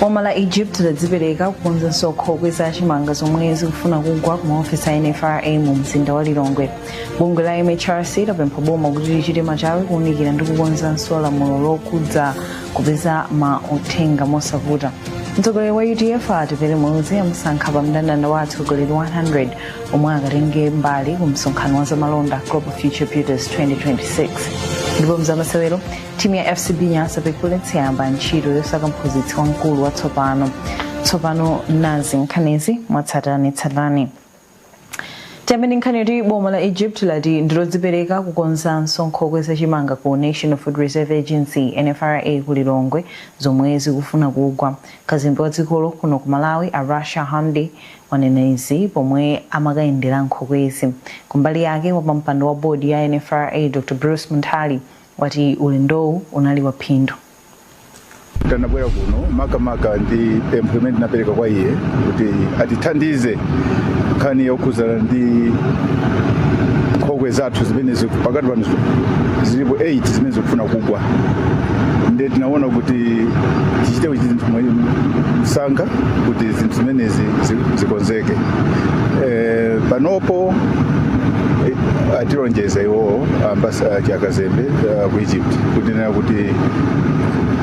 boma la egypt ladzipereka kukonza nso nkhokwe za chimanga zomwe zikufuna kugwa ku maofesi a nfra mu mzinda wa lilongwe bungwe la mhrc lapempha boma kuti lichite machawi kuunikira ndi kukonzanso lamulo lokhudza kupeza ma uthenga mosavuta mtsogoleri wa udf atupele muluzi amusankha pa mndandanda wa atsogoleri 100 omwe akatenge mbali ku msonkhano wa zamalonda global future builders 2026 ndipo m'zamasewero timu ya fcb nyasa big bullets yayamba ntchito yosaka mphunzitsi wamkulu watsopano tsopano nazi nkhanizi mwatsatanetsatane tiyambe ndi nkhani yoti boma la egypt lati ndilodzipereka kukonzanso nkhokwe za chimanga ku national food reserve agency nfra ku lilongwe zomwe zikufuna kugwa kazembe wa dzikolo kuno ku malawi a rasha hamdy wanena izi pomwe amakayendera nkhokwezi kumbali yake wapampando wa bodi ya nfra dr bruce munthali wati ulendowu unali wa phindu. Tanabwera kuno makamaka ndi pempho limene tinapereka kwa iye kuti atithandize nkhani yokhudzana ndi nkhokwe zathu zimene ziku- pakati pano zilipo 8 zimene zikufuna kugwa nde tinaona kuti tichite kuti zinthu mwa- msanga kuti zinthu zimenezi zi- zikonzeke Eh, panopo eh, atilonjeza iwowo ambasada ya kazembe uh, ku egypt kunena kuti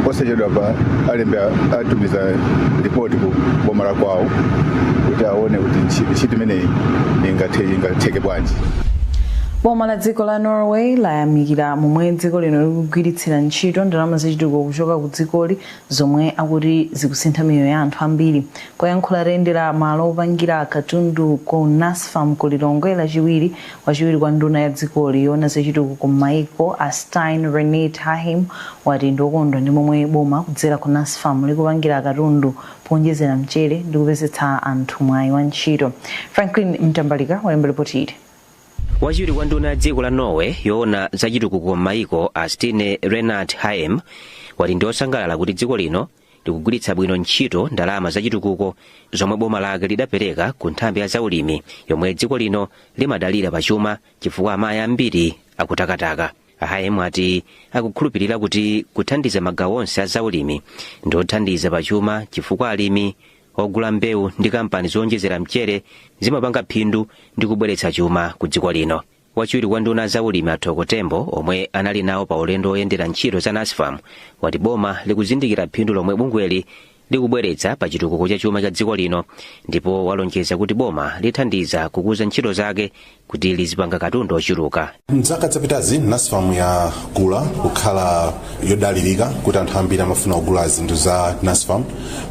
posachedwapa alembe a- atumiza ripoti ku boma la kwawo kuti aone kuti ntchi- ntchito imeneyi ingathe- ingatheke bwanji boma la dziko la norway layamikira momwe dziko lino likugwiritsira ntchito ndalama zachitukuko kuchoka ku dzikoli zomwe akuti zikusintha miyoyo ya anthu ambiri poyankhula atayendera malo opangira katundu ku nasfam ku lilongwe lachiwiri Wachiwiri kwa nduna ya dzikoli yoona za chitukuko m'maiko a Stine Renate Haheim wati ndiokondwa ndi momwe boma kudzera ku Nasfam likupangira katundu poonjezera mchere ndi kupezetsa anthu mwayi wa ntchito. Franklin Mtambalika walemba lipoti ili. Wachiwiri kwa nduna ya dziko la Norway yoona za chitukuko m'maiko a Stine Renate Haheim wati ndiosangalala kuti dziko lino likugwiritsa bwino ntchito ndalama zachitukuko zomwe boma lake lidapereka ku nthambi ya zaulimi yomwe dziko lino limadalira pa chuma chifukwa amayi ambiri akutakataka a haheim ati akukhulupirira kuti kuthandiza magawo onse a zaulimi ndi othandiza pa chuma chifukwa alimi ogula mbewu ndi kampani zowonjezera mchere zimapanga phindu ndi kubweretsa chuma ku dziko lino wachiwiri kwa nduna za ulimi a thoko tembo omwe anali nawo pa ulendo woyendera ntchito za nasfam wati boma likuzindikira phindu lomwe bungweli likubweretsa pa chitukuko cha chuma cha dziko lino ndipo walonjeza kuti boma lithandiza kukuza ntchito zake kuti lizipanga katundu ochuluka mzaka zapitazi nasfam yakula kukhala yodalirika kuti anthu ambiri amafuna kugula zinthu za nasfam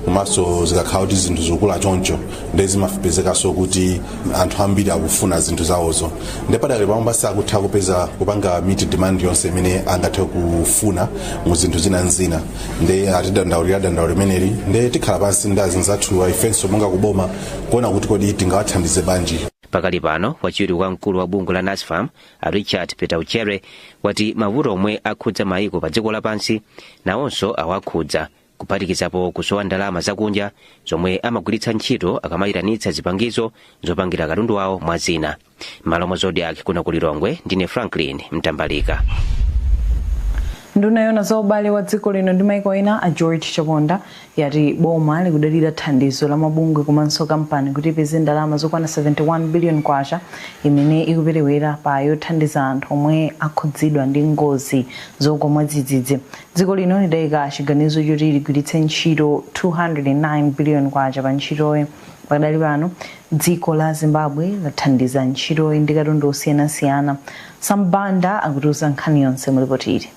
komanso zikakhala kuti zinthu zikukula choncho nde zimapezekanso kuti anthu ambiri akufuna zinthu zawozo nde padakali pano pawo sakutha kupeza kupanga meet demand yonse imene angathe kufuna mu zinthu zina nzina nde atidandaulira dandaulo limeneli nde tikhala pansi ndi azinzathu ifenso monga kuboma kuona kuti kodi tingawathandize banji pakali pano wachiwiri kwa mkulu wa bungwe la nasfam a richard petauchere wati mavuto omwe akhudza maiko pa dziko lapansi nawonso awakhudza kuphatikizapo kusowa ndalama zakunja zomwe amagwiritsa ntchito akamayitanitsa zipangizo zopangira katundu wawo mwa zina m'malo mwa zodiac kuno ku lilongwe ndine franklin mtambalika nduna yona za ubale wa dziko lino ndi maiko ena a george chaponda yati boma likudalira thandizo la mabungwe komanso kampani kuti ipeze ndalama zokwana 71 billion kwacha imene ikuperewera pothandiza anthu omwe akhudzidwa ndi ngozi zogwa mwadzidzidzi Dziko lino lidaika chiganizo choti ligwiritse ntchito K209 biliyoni pa ntchitoyi. Pakadali pano, dziko la Zimbabwe lathandiza ntchitoyi ndi katundu osiyanasiyana. Sam Banda akutiuza nkhani yonse mu lipoti ili.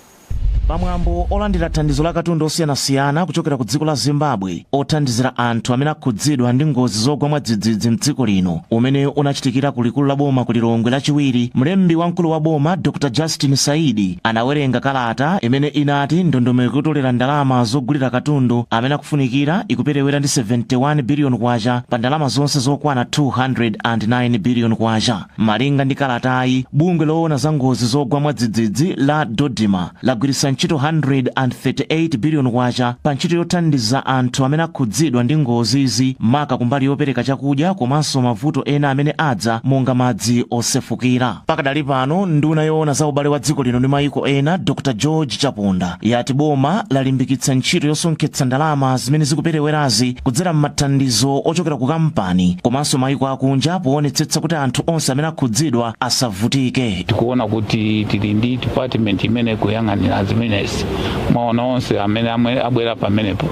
Pamwambo olandira thandizo la katundu osiyanasiyana kuchokera ku dziko la Zimbabwe, othandizira anthu amene akhudzidwa ndi ngozi zogwa mwadzidzidzi mdziko lino umene unachitikira ku likulu la boma ku lilongwe lachiwiri mlembi wamkulu wa boma dr justin saidi anawerenga kalata imene inati ndondomeko yotolera ndalama zogulira katundu amene akufunikira ikuperewera ndi 71 biliyoni kwacha pa ndalama zonse zokwana 209 biliyoni kwacha malinga ndi kalatayi bungwe loona za ngozi zogwa mwadzidzidzi la dodima lagwiritsa ntchito K138 biliyoni pa ntchito yothandiza anthu amene akhudzidwa ndi ngozizi, maka kumbali yopereka chakudya komanso mavuto ena amene adza monga madzi osefukira. Pakadali pano, nduna yoona za ubale wa dziko lino ndi mayiko ena, Dr George Chaponda, yati boma lalimbikitsa ntchito yosonkhetsa ndalama zimene zikuperewerazi kudzera m'mathandizo ochokera ku kampani komanso mayiko akunja poonetsetsa kuti anthu onse amene akhudzidwa asavutike. tikuona kuti tili ndi department imene kuyang'anira zimenezi mwaona onse amene abwera pamenepo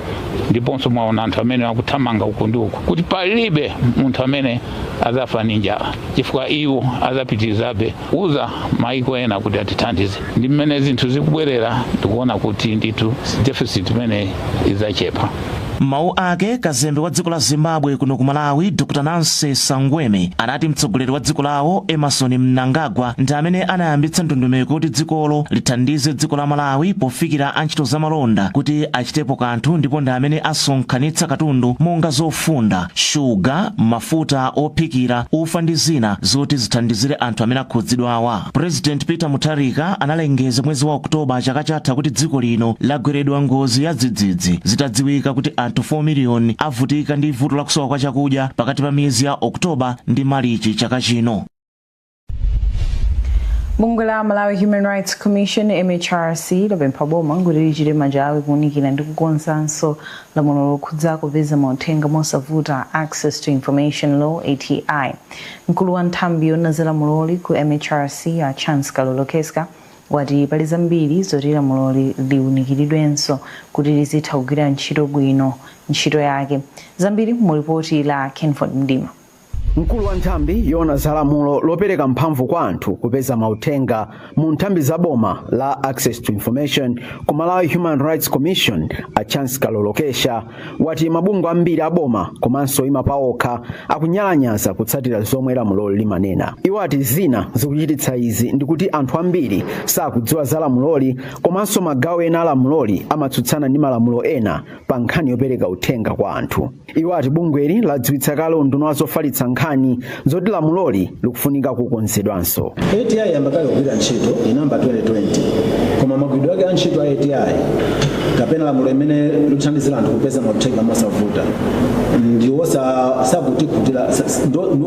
ndiponso mwaona anthu amene akuthamanga uku ndi uku kuti palibe munthu amene azafa ndi njala chifukwa iwo azapitirizabe kuuza maiko ena kuti atithandize ndi mmene zinthu zikubwerera ndikuona kuti ndithu deficit imene izachepa M'mawu ake, kazembe wa dziko la Zimbabwe kuno ku Malawi, Dr Nancy Saungweme, anati mtsogoleri wa dziko lawo, Emmerson Mnangagwa, ndi amene anayambitsa ndondomeko kuti dzikolo lithandize dziko la Malawi pofikira a ntchito za malonda kuti achitepo kanthu ndipo ndi amene asonkhanitsa katundu monga zofunda, shuga, mafuta ophikira, ufa ndi zina zoti zithandizire anthu amene akhudzidwawa. President Peter Mutharika analengeza mwezi wa October chaka chatha kuti dziko lino lagweredwa ngozi ya dzidzidzi zitadziwika kuti anthu 4 miliyoni avutika ndi vuto la kusowa kwa chakudya pakati pa miyezi ya October ndi Malichi chaka chino. Bungwe la Malawi Human Rights Commission MHRC lapempha boma kuti lichite machawi kuunikira ndi kukonzanso lamulo lokhudza kupeza mauthenga mosavuta Access to Information Law ATI. Mkulu wa nthambi yoona za lamuloli ku MHRC a Chance Kalolokesya wati pali zambiri zoti lamuloli liunikiridwenso kuti lizitha kugwira ntchito bwino ntchito yake. Zambiri mu lipoti la Kenford Mdima. Mkulu wa nthambi yoona za lamulo lopereka mphamvu kwa anthu kupeza mauthenga mu nthambi za boma la access to information ku malawi human rights commission a chance kalolokesya wati mabungwe ambiri a boma komanso oima paokha akunyalanyaza kutsatira zomwe lamuloli limanena iwo ati zina zikuchititsa izi ndikuti anthu ambiri sakudziwa za lamuloli komanso magawo ena a lamuloli amatsutsana ndi malamulo ena pa nkhani yopereka uthenga kwa anthu iwo ati bungweli ladziwitsa kale unduna wa zofalitsa nkhani zoti lamuloli likufunika kukonzedwanso ati yayamba kale kugwira ntchito inamba 2020 koma magwiridwe ake a ntchito a ati kapena lamulo limene likuthandizira anthu kupeza mauthenga mosavuta ndiwo sa- sakutikhutira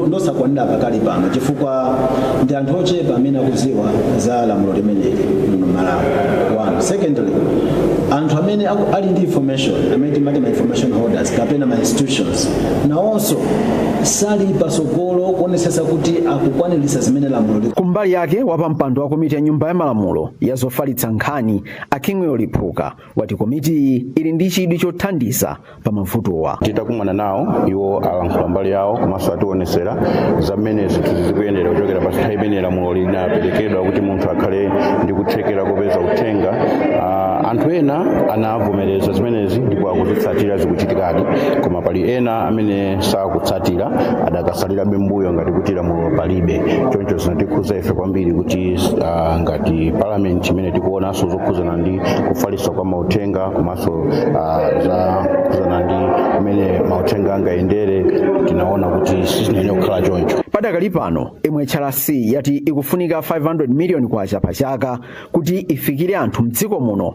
ndi osakwanira pakali pano chifukwa ndi anthu ochepa amene akudziwa za lamulo limeneli muno malawi one secondly anthu amene ali ndi information amene timati information holders kapena ma institutions nawonso sali pasogolo kuonesesa kuti akukwanilisa zimene lamulo liku kumbali yake wapampando wa komiti ya nyumba ya malamulo ya zofalitsa nkhani a kingwell liphuka wati komitiyi ili ndi chidwi chothandiza pa mavutowa titakumana nawo iwo alankhula mbali yawo komanso atiwonesera za mmene zinthu zikuyendera kuchokera pa nthawi imene lamulo linaperekedwa kuti munthu akhale ndi kuthekera kopeza uthenga Ah, anthu ena anavomereza mereza zimenezi ndipo akuzitsatira zikuchitikadi, koma pali ena amene sakutsatira adakasalirabe mbuyo ngati kuti lamulo palibe. Choncho zinatikhuza ife kwambiri kuti ah, ngati parliament imene tikuonanso zokhuzana ndi kufalitsa kwa mauthenga komanso ah, zokhuzana ndi mmene mauthenga angayendere tinaona kuti siziyenera kukhala choncho. padakali pano mhrc yati ikufunika 500 miliyoni kwacha pa chaka kuti ifikire anthu mdziko muno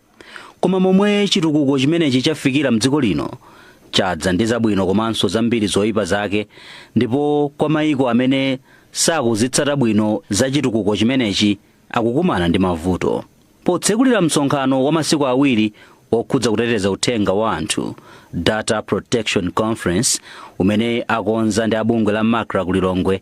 Koma momwe chitukuko chimenechi chafikira m'dziko lino, chadza ndi zabwino komanso zambiri zoipa zake, ndipo kwa maiko amene sakuzitsata bwino za chitukuko chimenechi akukumana ndi mavuto. Potsekulira msonkhano wa masiku awiri okhudza kuteteza uthenga wa anthu, Data Protection Conference, umene akonza ndi a bungwe la macra ku Lilongwe,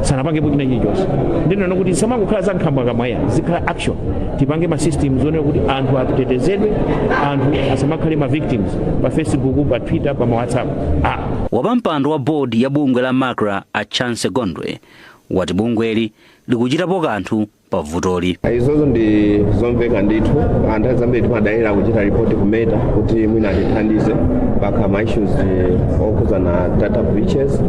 sanapangepo china chilichonse ndinena kuti zisamangokhala za nkhambakamwa ayi zikhala action tipange ma systems onena kuti anthu atetezedwe anthu asamakhale ma victims pa facebook pa twitter pa ma whatsapp ah. wapampando wa board ya bungwe la macra a chancy gondwe wati bungweli likuchitapo kanthu pa vutoli. izozo ndi zomveka ndithu nthawi zambiri timadalira kuchita report ku Meta kuti mwina atithandize pakakhala ma issues okhudzana data breaches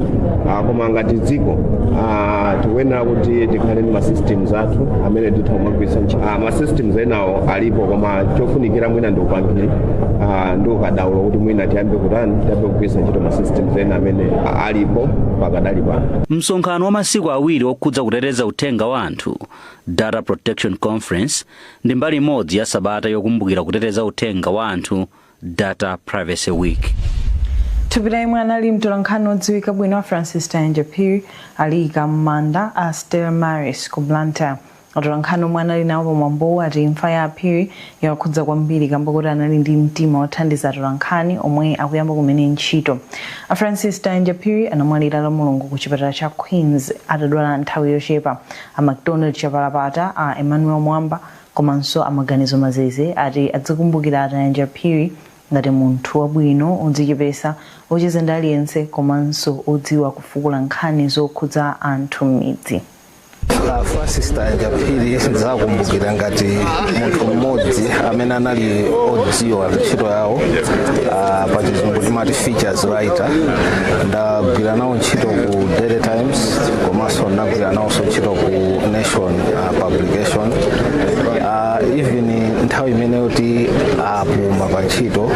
Ah, koma ngati dziko ah, tikuyenera kuti tikhale ndi ma systems athu amene titha kumagwiritsa ntchito Ah, ma systems enawo alipo koma chofunikira mwina ndi upangiri ah, ndi ukadaulo kuti mwina tiyambe kutani tiyambe kugwiritsa ntchito ma systems ena amene ah, alipo pakadali pano Msonkhano wa masiku awiri okhudza kuteteza Uthenga wa anthu, Data Protection Conference, ndi mbali imodzi ya sabata yokumbukira kuteteza uthenga wa anthu, Data Privacy Week. Thupi la yemwe anali mtolankhani wodziwika bwino a Francis Tayanja Phiri aliyika m'manda a Stella Maris ku Blantyre. Atolankhani omwe anali nawo pamwambowu ati imfa ya a Phiri yawakhudza kwambiri kamba koti anali ndi mtima wothandiza atolankhani omwe akuyamba kumene ntchito. A Francis Tayanja Phiri anamwalira lamulungu ku chipatala cha Queens atadwala nthawi yochepa. A Macdonald Chapalapata, a Emmanuel Mwamba komanso a Maganizo Mazeze ati adzikumbukira a Tayanja Phiri ngati munthu wabwino, odzichepesa, ocheza ndi aliyense komanso odziwa kufukula nkhani zokhudza anthu m'midzi. a francis tayanja phiri ndidzakumbukira ngati munthu mmodzi amene anali odziwa ntchito yawo ah, pa chizungu timati features writer ndagwira nawo ntchito ku daily times komanso ndagwira nawonso ntchito ku nation ah, publication Ah, even nthawi imene yoti apuma pa ntchito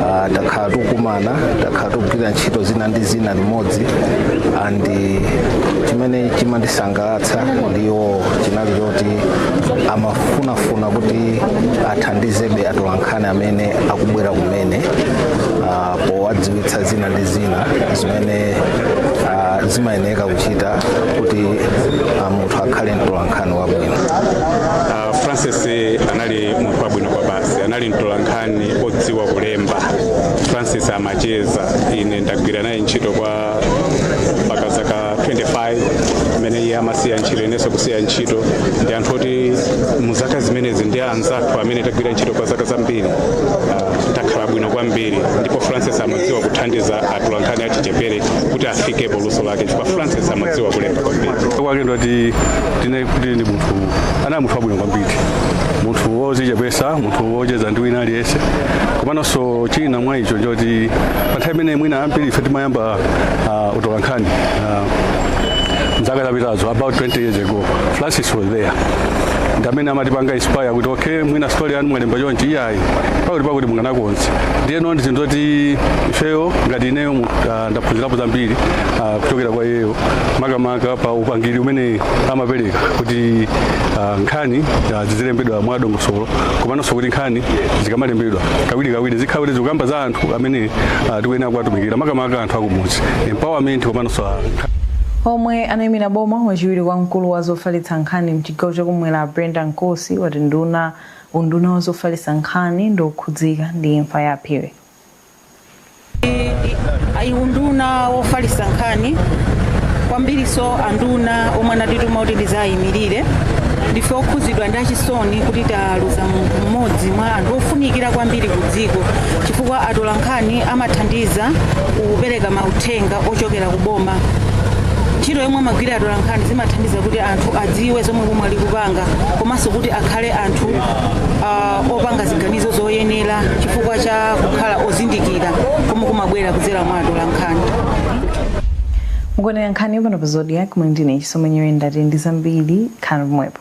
ah, takhala tikukumana takhala tikugwira ntchito zina ndi zina limodzi ndi chimene chimandisangalatsa ndi iwowo chinali choti amafunafuna kuti athandizebe atolankhani amene akubwera kumene ah, powadziwitsa zina ndi zina zimene ah, zimayeneka kuchita kuti ah, munthu akhale mtolankhani wabwino Ah, francis anali munthu wabwino kwabasi anali mtolankhani odziwa kulemba francis amacheza ine ndagwira naye ntchito kwa mpaka zaka 25 imene iye amasiya ntchito inenso kusiya ntchito ndi anthu oti mu zaka zimenezi ndi anzathu amene tagwira ntchito kwa zaka zambiri ah, takhala bwino kwambiri ndipo francis amadziwa kuthandiza atolankhani achichepere kuti afike poluso lake chifukwa francis amadziwa kulemba kwambiri kwake ndoti tine kuti ndi munthu anali munthu wabwino kwambiri munthu wozichepesa munthu wocheza ndi wina aliyense komanso china mwa icho choti pa nthawi imene mwina ambiri ife timayamba uh, utolankhani uh, mzaka zapitazo about 20 years ago francis was there ndi amene amatipanga inspire kuti okay mwina story yanu mwalemba chonchi iyayi pakuti pakuti mukanakonza ndiyeno ndi zinthu zoti ifeyo ngati ineyo mu- ah, ndaphunzirapo zambiri ah, kuchokera kwa iyeyo makamaka pa upangiri umene amapereka kuti ah, nkhani ah, zizilembedwa mwadongosolo komanso kuti nkhani zikamalembedwa kawiri kawiri zikhale kuti zikukamba za anthu athu amene uh, tikuyenera kuwatumikira makamaka anthu akumudzi empowerment komanso Omwe anayimira boma wachiwiri kwa mkulu wa zofalitsa nkhani mchigawo chakumwera Brenda Nkosi wati nduna unduna wa zofalitsa nkhani ndi okhudzika ndi imfa ya Phiri. ayi unduna wofalitsa nkhani kwambirinso anduna omwe anatituma kuti tizayimirire ndife okhudzidwa ndi achisoni kuti ta aluza munthu mmodzi mwa anthu ofunikira kwambiri ku dziko chifukwa atolankhani amathandiza kupereka mauthenga ochokera ku boma ntchito yomwe amagwira atolankhani zimathandiza kuti anthu adziwe zomwe boma likupanga komanso kuti akhale anthu ah, opanga ziganizo zoyenera chifukwa cha kukhala ozindikira komwe kumabwera kudzera mwa atolankhani mukuonera nkhani pano pa zodiak muli ndine chisomo nyirenda tili ndi zambiri khalani pomwepo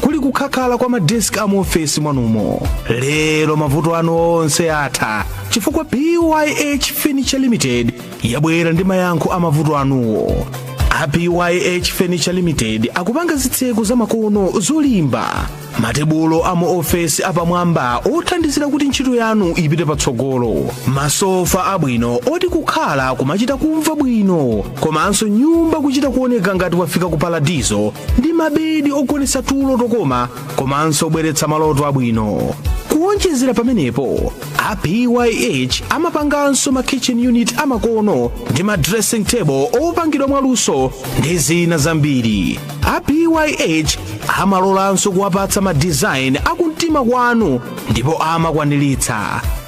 kuli kukhakhala kwa madesk a mu ofesi mwanumo lero mavuto anu onse atha chifukwa pyh furniture limited yabwera ndi mayankho a mavuto anuwo a pyh furniture limited akupanga zitseko zamakono zolimba matebulo a mu ofesi apamwamba othandizira kuti ntchito yanu ipite patsogolo masofa abwino oti kukhala kumachita kumva bwino komanso nyumba kuchita kuoneka ngati wafika ku paradizo ndi mabedi ogonetsa tulo tokoma komanso obweretsa maloto abwino kuwonjezera pamenepo a pyh amapanganso ma kitchen unit amakono ndi ma dressing table opangidwa mwaluso ndi zina zambiri a pyh amalolanso kuwapatsa ma design akumtima kwanu ndipo amakwaniritsa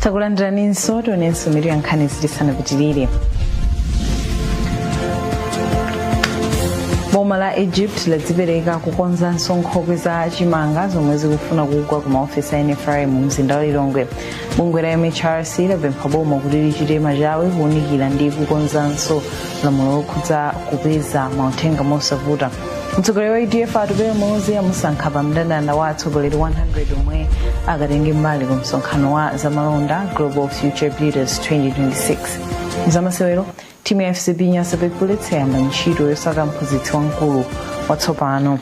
takulandiraninso tionenso mitu ya nkhanizi tisanapitirire boma la egypt ladzipereka kukonzanso nkhokwe za chimanga zomwe zikufuna kugwa ku maofesi a nfra mu mzinda wa lilongwe bungwe la mhrc lapempha boma kuti lichite machawi kuunikira ndi kukonzanso lamulo lokhudza kupeza mauthenga mosavuta mtsogoleri wa udf atupele muluzi amusankha pa mndandanda wa atsogoleri 100 omwe akatenge mbali ku msonkhano wa zamalonda global future builders 2026 zamasewero timu ya fcb nyasa big bullets yayamba ntchito yosaka mphunzitsi wamkulu watsopano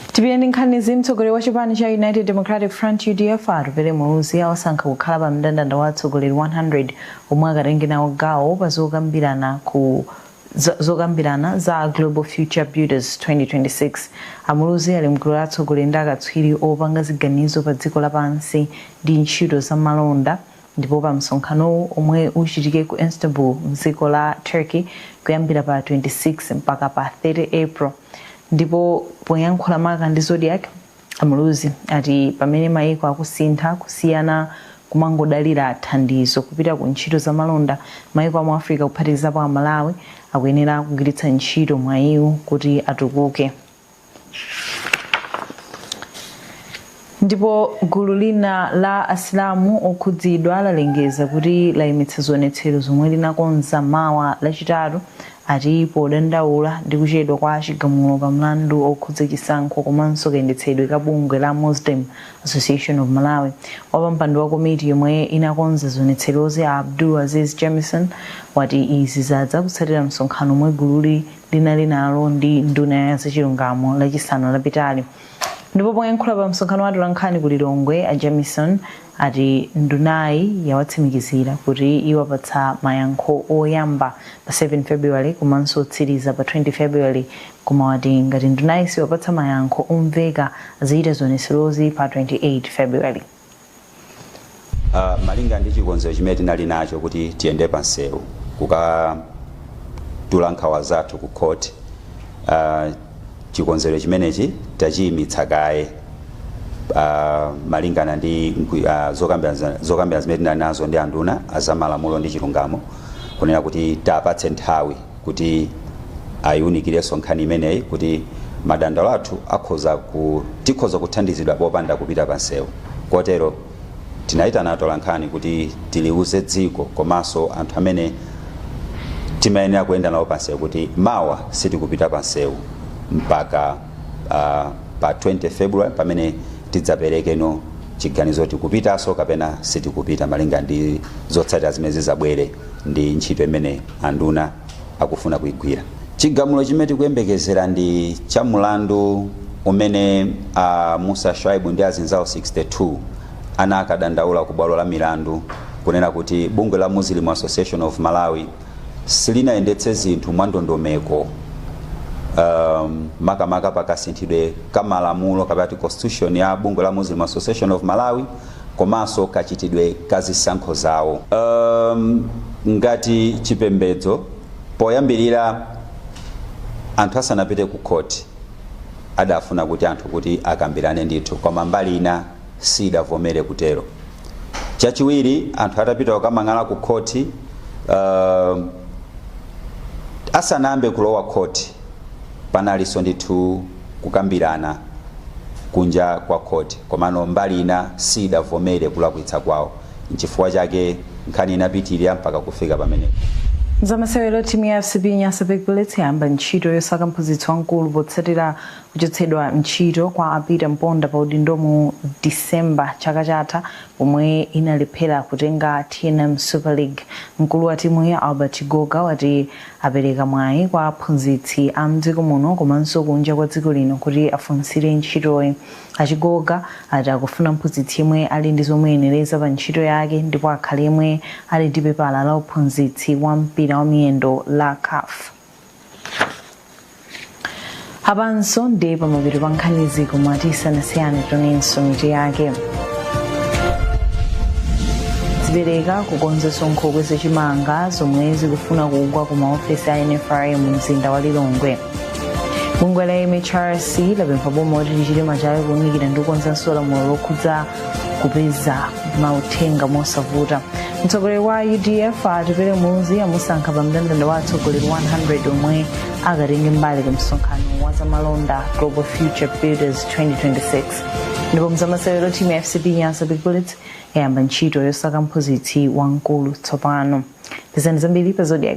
Tipitirire ndi nkhanizi, Mtsogoleri wa chipani cha United Democratic Front, udf, a Atupele Muluzi awasankha kukhala pa mndandanda wa atsogoleri 100 omwe akatenge nawo gawo pa zokambirana za Global Future Builders 2026. A Muluzi ali mgulu la atsogoleri ndi akatswiri opanga ziganizo pa dziko la pansi ndi ntchito za malonda, Ndipo pa msonkhanowu omwe uchitike ku Istanbul mdziko la Turkey kuyambira pa 26 mpaka pa 30 April ndipo poyankhula maka ndi Zodiak, a Muluzi ati pamene maiko akusintha kusiya kumangodalira thandizo kupita ku ntchito za malonda, maiko amu Africa kuphatikizapo a Malawi akuyenera kugwiritsa ntchito mwayiwu kuti atukuke. Ndipo gulu lina la Asilamu okhudzidwa lalengeza kuti layimitsa zionetsero zomwe linakonza mawa Lachitatu ati podandaula ndi kuchedwa kwa chigamulo pa mlandu okhudza chisankho komanso kayendetsedwe ka bungwe la Muslim Association of Malawi. Wapampando wa komiti yomwe inakonza zionetserozi a Abdul Aziz Jamison wati izi zadza kutsatira msonkhano omwe gululi linali nalo ndi nduna ya zachilungamo lachisanu lapitali ndipo poyankhula pa msonkhano wa atolankhani ku lilongwe a jamison ati ndunayi yawatsimikizira kuti iwapatsa mayankho oyamba pa 7 february komanso otsiriza pa 20 february koma wati ngati ndunayi siwapatsa mayankho omveka adzachita zionetserozi pa 28 february Uh, malingana ndi chikonzero chimene tinali nacho kuti tiyende pa nsewu kukatula nkhawa zathu ku court uh, chikonzero chimenechi tachiyimitsa kaye uh, malingana ndi uh, zokambirana zimene tinali nazo ndi anduna azamalamulo ndi chilungamo kunena kuti tiwapatse nthawi kuti ayiunikirenso nkhani imeneyi kuti madandaulo athu tikhoza kuthandizidwa popanda kupita pa nsewu kotero tinayitana atolankhani kuti tiliuze dziko komanso anthu amene timayenera kuyenda nawo pa nsewu kuti mawa sitikupita pa nsewu mpaka uh, pa 20 february pamene tidzaperekeno chiganizo tikupitanso kapena sitikupita malinga ndi zotsatira zimene zizabwere ndi ntchito imene anduna akufuna kuigwira. Chigamulo chimene tikuyembekezera ndi cha mulandu umene a Mussa Shaibu ndi azinzawo 62 anakadandaula ku bwalo la milandu kunena kuti bungwe la Muslim Association of Malawi silinayendetse zinthu mwandondomeko um, makamaka pakasinthidwe ka malamulo kapena kuti constitution ya bungwe la Muslim Association of Malawi komanso kachitidwe ka zisankho zawo. Um, ngati chipembedzo poyambirira anthu asanapite ku khoti adafuna kuti anthu kuti akambirane ndithu koma mbali ina siidavomere kutero chachiwiri anthu atapita kukamang'ala ku khoti uh, asanayambe kulowa khoti Panalinso ndithu kukambirana kunja kwa khoti komano mbali ina siyidavomere kulakwitsa kwawo n'chifukwa chake nkhani inapitilira mpaka kufika pamenepa. Zamasewero Timu ya FCB Nyasa Big Bullets yayamba ntchito yosaka mphunzitsi wamkulu potsatira kuchotsedwa ntchito kwa a Peter Mponda pa udindo mu December chaka chatha pomwe inalephera kutenga tnm Super League. Mkulu wa timuyi Albert Chigoga wati Apereka mwayi kwa aphunzitsi a m'dziko muno komanso kunja kwa dziko lino kuti afunsire ntchitoyi. A Chigoga ati akufuna mphunzitsi yemwe ali ndi zomuyenereza pa ntchito yake ndipo akhale yemwe ali ndi pepala la uphunzitsi wa mpira wa miyendo la caf. apanso ndi pamapeto pa nkhanizi koma tisanasiyane tonenso mitu yake zipereka kukonzetsa nkhokwe za chimanga zomwe zikufuna kugwa ku maofesi a nfra mu mzinda wa lilongwe bungwe la mhrc lapempha boma kuti lichite machawi kuunikira ndi kukonzanso lamulo lokhudza kupeza mauthenga mosavuta mtsogoleri wa udf atupele muluzi amusankha pa mndandanda wa atsogoleri 100 omwe akatenge mbali ku msonkhano wa zamalonda global future builders 2026 ndipo mzamasewero timu ya fcb nyasa big bullets yayamba ntchito yosaka mphunzitsi wamkulu tsopano pezani zambiri pa zodiak